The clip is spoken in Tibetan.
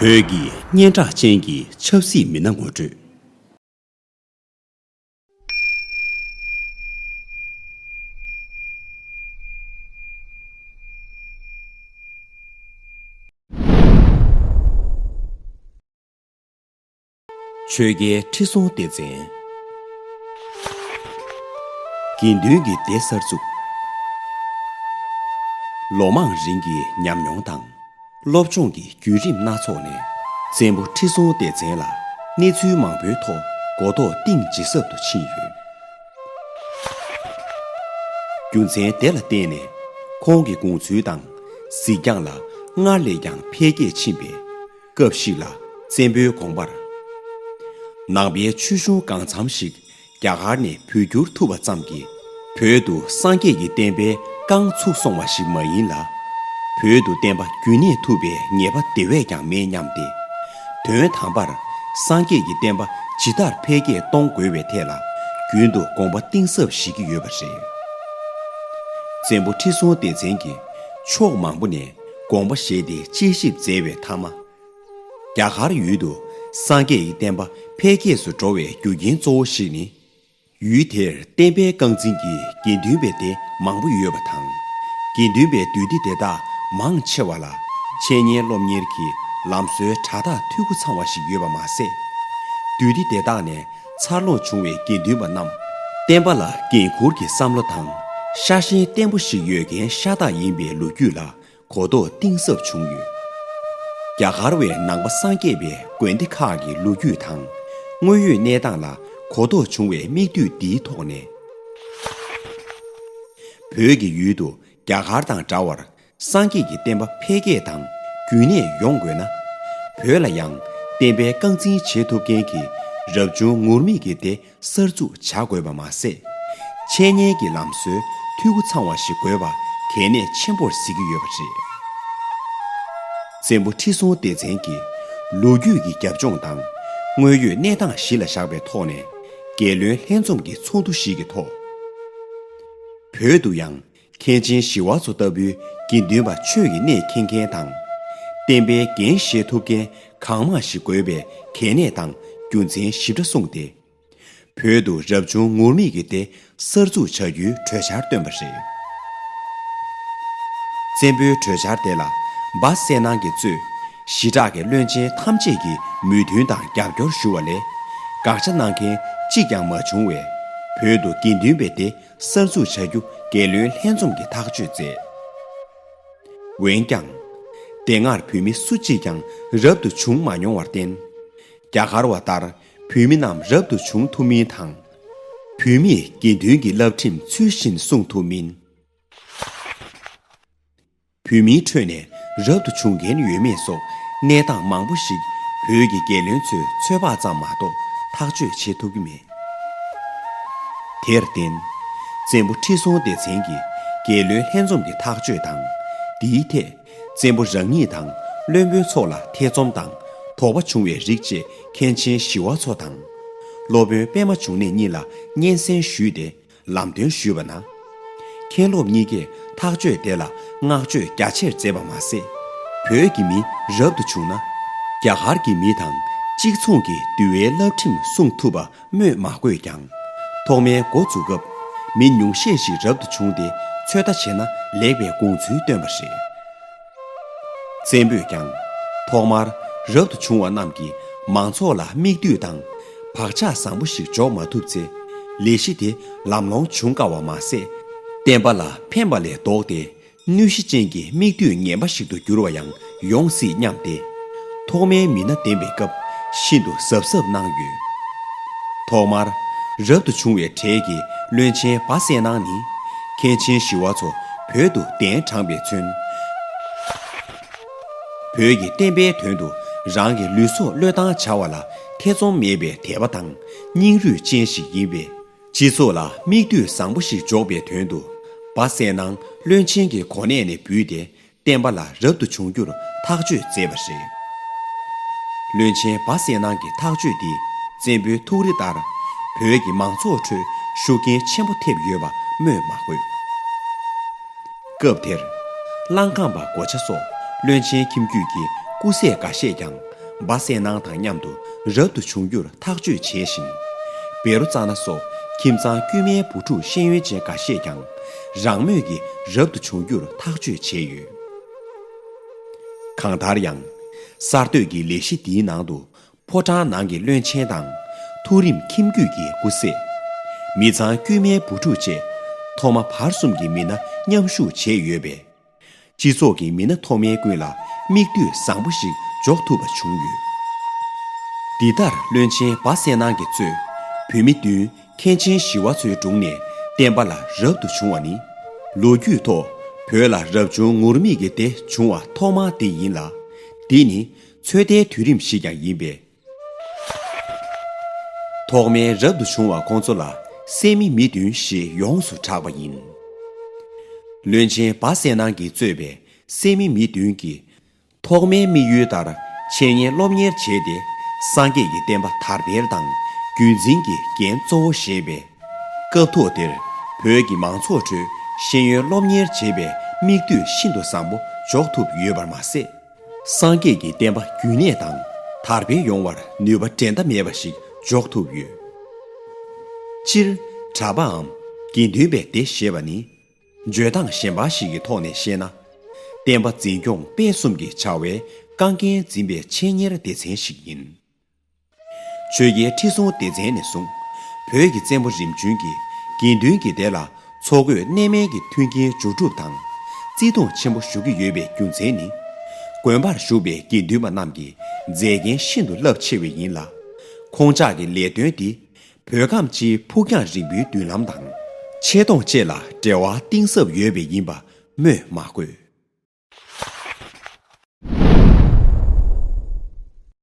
བོད་ཀྱི་སྙན་གྲགས་ཅན་གྱི་ཆབ་སྲིད་མི་སྣ་ངོ་སྤྲོད། ཆོས་རྒྱལ་ཁྲི་སྲོང་ལྡེ་བཙན། དགེ་འདུན་གྱི་སྡེ་གསར་བཙུགས། ལོ་མང་རིང་གི་ཉམས་མྱོང་དང་སློབ་སྦྱོང་གི་བརྒྱུད་རིམ་སྣ་ཚོགས་ནས་བཙན་པོ་ཁྲི་སྲོང་ལྡེ་བཙན་ལ་གནས་ཚུལ་མང་པོའི་ཐོག་མགོ་ཐོག་གཏིང་ཇི་ཟབ་ཏུ་ཕྱིན་ཡོད། རྒྱུ་མཚན་དེ་ལ་བརྟེན་ནས་ཁོང་གི་དགོངས་ཚུལ་དང་གཟིགས་རྒྱང་ལ་སྔར་ལས་ཀྱང་འཕེལ་རྒྱས་ཕྱིན་པས། སྐབས་ཤིག་ལ་བཙན་པོའི་དགོངས་པར། ནང་པའི་ཆོས་གཞུང་གང་འཚམ་ཞིག་རྒྱ་གར་ནས་བོད་བསྒྱུར་ཐུབ་པ་ཙམ་གྱིས་བོད་དུ་སངས་རྒྱས་ཀྱི་བསྟན་པའི་རྐང་ཚུགས་སོང་བ་ཞིག་མ་ཡིན་ལ། བོད་དུ་བསྟན་པ་རྒྱུན་གནས་ཐུབ་པའི་ངེས་པ་དེ་བས་ཀྱང་མེད་སྙམ་སྟེ། དོན་དམ་པར་སངས་རྒྱས་ཀྱི་བསྟན་པ་ཇི་ལྟར་འཕེལ་རྒྱས་གཏོང་དགོས་བའི་ཐད་ལ་རྒྱུན་དུ་དགོངས་པ་གཏིང་ཟབ་བཞེས་ཀྱི་ཡོད་པ་རེད། བཙན་པོ་ཁྲི་སྲོང་ལྡེ་བཙན་གྱིས་ཕྱོགས་མང་པོ་ནས་དགོངས་པ་བཞེས་ཏེ་དཔྱད་ཞིབ་མཛད་པའི་མཐའ་མ། རྒྱ་གར་ཡུལ་དུ་སངས་རྒྱས་ཀྱི་བསྟན་པ་འཕེལ་རྒྱས་སུ་འགྲོ་བའི་རྒྱུ་རྐྱེན་གཙོ་བོ་ཞིག་ནི། ཡུལ་དེར་བསྟན་པའི་རྐང་འཛིན་གྱི་དགེ་འདུན་པའི་སྡེ་མང་པོ་ཡོད་པ་དང། དགེ་འདུན་པའི་འདུས་སྡེ་དེ་དག་མང་ཆེ་བ་ལ་འཆད་ཉན་སློབ་གཉེར་གྱི་ལམ་སྲོལ་དྲ་ཐག་འཐུས་སྒོ་ཚང་བ་ཞིག་ཡོད་པ་མ་ཟད། འདུས་སྡེ་དེ་དག་ནས་འཚར་ལོངས་བྱུང་བའི་དགེ་འདུན་པ་རྣམས། བསྟན་པ་ལ་འགན་འཁུར་གྱི་བསམ་བློ་དང་ཤ་ཞེན་བརྟན་པོ་ཞིག་ཡོད་མཁན་ཤ་སྟག་ཡིན་པའི་ལོ་རྒྱུས་ལ་གོ་རྟོགས་གཏིང་ཟབ་བྱུང་ཡོད། རྒྱ་གར་བའི་ནང་པ་སངས་རྒྱས་པའི་དགོན་སྡེ་ཁག་གི་ལོ་རྒྱུས་དང་དངོས་ཡོད་གནས་སྟངས་ལ་གོ་རྟོགས་བྱུང་བའི་མིག་ལྟོས་འདིའི་ཐོག་ནས། བོད་ཀྱི་ཡུལ་དུ་རྒྱ་གར་དང་འདྲ་བར་སངས་རྒྱས་ཀྱི་བསྟན་པ་འཕེལ་རྒྱས་དང་རྒྱུན་གནས་ཡོང་དགོས་ན། བོད་ལ་ཡང་བསྟན་པའི་རྐང་འཛིན་བྱེད་ཐུབ་མཁན་གྱི་རབ་བྱུང་ངུར་སྨྲིག་གི་སྡེ་གསར་འཛུགས་བྱ་དགོས་པ་མ་ཟད། འཆད་ཉན་གྱི་ལམ་སྲོལ་འཐུས་སྒོ་ཚང་བ་ཞིག་དགོས་པ་གལ་གནད་ཆེན་པོར་གཟིགས་ཀྱི་ཡོད་པ་རེད། བཙན་པོ་ཁྲི་སྲོང་ལྡེ་བཙན་གྱིས་ལོ་རྒྱུས་ཀྱི་རྒྱབ་ལྗོངས་དང་དངོས་ཡོད་གནས་སྟངས་གཞི་ལ་བཞག་པའི་ཐོག་ནས། རྒྱལ་བློན་ལྷན་འཛོམས་ཀྱི་ཚོགས་འདུ་ཞིག་གི་ཐོག་བོད་དུ་ཡང་མཁན་ཆེན་ཞི་བ་འཚོ་ལྟ་བུའི་དགེ་འདུན་པ་ཆོས་ཀྱི་གནས་མཁྱེན་མཁན་དང། བསྟན་པའི་འགན་བཞེས་ཐུབ་མཁན་གང་མང་ཞིག་དགོས་པའི་གལ་གནད་དང་རྒྱུ་མཚན་ཞིབ་ཕྲ་གསུངས་ཏེ། བོད་དུ་རབ་བྱུང་ངུར་སྨྲིག་གི་སྡེ་གསར་འཛུགས་བྱ་རྒྱུའི་གྲོས་འཆར་བཏོན་པ་རེད། བཙན་པོའི་གྲོས་འཆར་དེ་ལ་སྦ་གསལ་ནང་གི་གཙོས་ཞི་དྲག་གི་བློན་ཆེན་ཐམས་ཅད་ཀྱིས་མོས་མཐུན་དང་རྒྱབ་སྐྱོར་ཞུ་བ་ལས་དགག་བྱ་གནང་མཁན་གཅིག་ཀྱང་མ་བྱུང་བས། བོད་དུ་དགེ་འདུན་པའི་སྡེ་གསར་འཛུགས་བྱ་རྒྱུ་འགལ་བློའི་ལྷན་འཛོམས་ཀྱི་ཐག་གཅོད་མཛད། འོན་ཀྱང། དེ་སྔར་བོད་མི་སུ་གཅིག་ཀྱང་རབ་ཏུ་བྱུང་མ་མྱོང་བར་བརྟེན། རྒྱ་གར་བ་ལྟར་བོད་མི་རྣམས་རབ་ཏུ་བྱུང་ཐུབ་མིན་དང། བོད་མིས་དགེ་འདུན་གྱི་བསླབ་ཁྲིམས་ཚུལ་བཞིན་སྲུང་ཐུབ་མིན། བོད་མིའི་ཁྲོད་ནས་རབ་ཏུ་བྱུང་མཁན་ཡོད་མེད་སོགས་གནས་སྟངས་མང་པོ་ཞིག་བོད་ཀྱི་རྒྱལ་བློན་ཚོའི་ཚོད་དཔག་ཙམ་མ་གཏོགས་ཐག་གཅོད་བྱེད་ཐུབ་ཀྱི་མེད། དེར་བརྟེན། བཙན་པོ་ཁྲི་སྲོང་ལྡེ་བཙན་གྱིས་རྒྱལ་བློན་ལྷན་འཛོམས་ཀྱི་ཐག་གཅོད་དང། འདིའི་ཐད་བཙན་པོ་རང་ཉིད་དང་བློན་པོའི་ཚོགས་ལ་ཐེ་ཚོམ་དང་དོགས་པ་བྱུང་བའི་རིགས་བཅས་མཁན་ཆེན་ཞི་བ་འཚོ་དང། སློབ་དཔོན་པདྨ་འབྱུང་གནས་གཉིས་ལ་སྙན་གསན་ཞུས་ཏེ་ལམ་སྟོན་ཞུས་པ་ན། མཁན་སློབ་གཉིས་ཀས་ཐག་གཅོད་དེ་ལ་བསྔགས་བརྗོད་རྒྱ་ཆེར་མཛད་པ་མ་ཟད། བོད་ཀྱི་མི་རབ་ཏུ་བྱུང་ན། རྒྱ་གར་གྱི་མི་དང་གཅིག་མཚུངས་ཀྱི་འདུལ་བའི་བསླབ་ཁྲིམས་སྲུང་ཐུབ་པ་སྨོས་མ་དགོས་ཀྱང། ཐོག་མའི་འགོ་འཛུགས་སྐབས་མི་ཉུང་ཤས་ཤིག་རབ་ཏུ་བྱུང་སྟེ་ཚོད་ལྟ་བྱས་ན་ལེགས་པའི་དགོངས་ཚུལ་བཏོན་པ་རེད། བཙན་པོས་ཀྱང། ཐོག་མར་རབ་ཏུ་བྱུང་བ་རྣམས་ཀྱི་མང་ཚོགས་ལ་དམིགས་འདུས་དང་བག་ཆགས་བཟང་པོ་ཞིག་འཇོག་མ་ཐུབ་ཚེ། ལས་གཞི་དེ་ལམ་ལྷོང་འབྱུང་དཀའ་བ་མ་ཟད། བསྟན་པ་ལ་ཕན་པ་ལས་ལྡོག་སྟེ་གནོད་གཞི་ཅན་གྱི་དམིགས་འདུས་ངན་པ་ཞིག་ཏུ་འགྱུར་བ་ཡང་ཡོང་སྲིད་སྙམ་སྟེ། ཐོག་མའི་མི་སྣ་འདེམས་པའི་སྐབས་ཤིན་ཏུ་གཟབ་གཟབ་གནང་ཡོད། ཐོག་མར་རབ་ཏུ་བྱུང་བའི་གྲས་ཀྱི་བློན་ཆེན་སྦ་གསལ་སྣང་ནི། མཁན་ཆེན་ཞི་བ་འཚོ་བོད་དུ་གདན་དྲངས་པའི་ཚུན། བོད་ཀྱི་བསྟན་པའི་དོན་དུ་རང་གི་ལུས་སྲོག་བློས་བཏང་བྱ་བ་ལ་ཐེ་ཚོམ་མེད་པའི་དད་པ་དང་སྙིང་རུས་ཅན་ཞིག་ཡིན་པས། སྤྱི་ཚོགས་ལ་མིག་ལྟོས་བཟང་པོ་ཞིག་འཇོག་པའི་དོན་དུ། སྦ་གསལ་ནང་བློན་ཆེན་གྱི་གོ་གནས་ནས་འབུད་དེ་བསྟན་པ་ལ་རབ་ཏུ་བྱུང་རྒྱུར་ཐག་གཅོད་མཛད་པ་རེད། བློན་ཆེན་སྦ་གསལ་སྣང་གི་ཐག་གཅོད་འདིས་བཙན་པོའི་ཐུགས་རེ་ལྟར་བོད་ཀྱི་མང་ཚོགས་ཁྲོད་ཤུགས་རྐྱེན་ཆེན་པོ་ཐེབས་ཡོད་པ་སྨོས་མ་དགོས། སྐབས་དེར། གླང་སྒང་པ་གོ་ཆ་སོགས་བློན་ཆེན་ཁྱིམ་རྒྱུད་ཀྱི་སྐུ་སྲས་འགའ་ཤས་ཀྱང་སྦ་གསལ་སྣང་དང་མཉམ་དུ་རབ་ཏུ་བྱུང་རྒྱུར་ཐག་གཅོད་བྱས་ཤིང། བེ་རོ་ཙཱ་ན་སོགས་ཁྱིམ་ཚང་དཀྱུས་མའི་བུ་ཕྲུག་ཤེས་ཡོན་ཅན་འགའ་ཤས་ཀྱང་རང་མོས་ཀྱིས་རབ་ཏུ་བྱུང་རྒྱུར་ཐག་གཅོད་བྱས་ཡོད། གང་ལྟར་ཡང། གསར་གཏོད་ཀྱི་ལས་གཞི་འདིའི་ནང་དུ་ཕོ་བྲང་ནང་གི་བློན་ཆེན་དང། ཐུགས་རིམ་ཁྱིམ་རྒྱུད་ཀྱི་སྐུ་སྲས། མི་ཚང་དཀྱུས་མའི་བུ་ཕྲུག་བཅས་ཐོག་མ་བར་གསུམ་གྱི་མི་སྣ་མཉམ་ཞུགས་བྱས་ཡོད་པས། སྤྱི་ཚོགས་ཀྱི་མི་སྣ་མཐོ་དམན་ཀུན་ལ་མིག་ལྟོས་བཟང་པོ་ཞིག་འཇོག་ཐུབ་པ་བྱུང་ཡོད། འདི་ལྟར་བློན་ཆེན་སྦ་གསལ་ནང་གི་གཙོས་བུད་མེད་བདུན་མཁན་ཆེན་བཞི་བ་ཚོའི་དྲུང་ནས་བསྟན་པ་ལ་རབ་ཏུ་བྱུང་བ་ནི། ལོ་རྒྱུས་ཐོག་བོད་ལ་རབ་བྱུང་ངུར་སྨྲིག་གི་སྡེ་བྱུང་བ་ཐོག་མ་དེ་ཡིན་ལ། འདི་ནི་ཚོད་ལྟའི་དུས་རིམ་ཞིག་ཀྱང་ཡིན་པས། ཐོག་མའི་རབ་ཏུ་བྱུང་བ་ཁོང་ཚོ་ལ་སད་མི་མི་བདུན་ཞེས་ཡོངས་སུ་གྲགས་པ་ཡིན། བློན་ཆེན་སྦ་སད་སྣང་གིས་གཙོས་པའི་སད་མི་མི་བདུན་གྱིས་ཐོག་མའི་དམིགས་ཡུལ་ལྟར་འཆད་ཉན་སློབ་གཉེར་བྱས་ཏེ་སངས་རྒྱས་ཀྱི་བསྟན་པ་དར་སྤེལ་དང་རྒྱུད་འཛིན་གྱི་འགན་གཙོ་བོ་བཞེས་པས། སྐབས་ཐོག་དེར་བོད་ཀྱི་མང་ཚོགས་ཁྲོད་ཤེས་ཡོན་སློབ་གཉེར་བྱེད་པའི་དམིགས་འདུས་ཤིན་ཏུ་བཟང་པོ་འཇོག་ཐུབ་ཡོད་པར་མ་ཟད། སངས་རྒྱས་ཀྱི་བསྟན་པ་རྒྱུན་གནས་དང་དར་འཕེལ་ཡོང་བར་ནུས་པ་འགྲན་ཟླ་མེད་པ་ཞིག་འཇོག་ཐུབ་ཡོད། སྤྱིར། གྲྭ་པའམ་དགེ་འདུན་པའི་སྡེ་ཞེས་པ་ནི། བརྗོད་སྟངས་གཞན་པ་ཞིག་གི་ཐོག་ནས་བཤད་ན། བསྟན་པ་འཛིན་སྐྱོང་སྤེལ་གསུམ་གྱི་བྱ་བའི་རྐང་འགན་འཛིན་པའི་ཆེད་གཉེར་སྡེ་ཚན་ཞིག་ཡིན། ཆོས་རྒྱལ་ཁྲི་སྲོང་ལྡེ་བཙན་ནས་བཟུང། བོད་ཀྱི་བཙན་པོ་རིམ་བྱོན་གྱིས་དགེ་འདུན་གྱི་སྡེ་ལ་འཚོ་གོས་གནས་མལ་གྱི་མཐུན་རྐྱེན་སྦྱོར་སྒྲུབ་དང། བརྩི་མཐོང་ཆེན་པོ་ཞུ་གི་ཡོད་པའི་རྒྱུ་མཚན་ནི། དགོན་པར་བཞུགས་པའི་དགེ་འདུན་པ་རྣམས་ཀྱི་མཛད་རྒྱན་ཤིན་ཏུ་རླབས་ཆེ་བས་ཡིན་ལ། ཁོང་ཅག་གི་ལས་དོན་འདི་བོད་ཁམས་སྤྱིའི་ཕུགས་རྒྱང་རིང་པོའི་མདུན་ལམ་དང། ཆེ་མཐོང་བཅས་ལ་འབྲེལ་བ་གཏིང་ཟབ་ཡོད་པས་ཡིན་པ་སྨོས་མ་དགོས།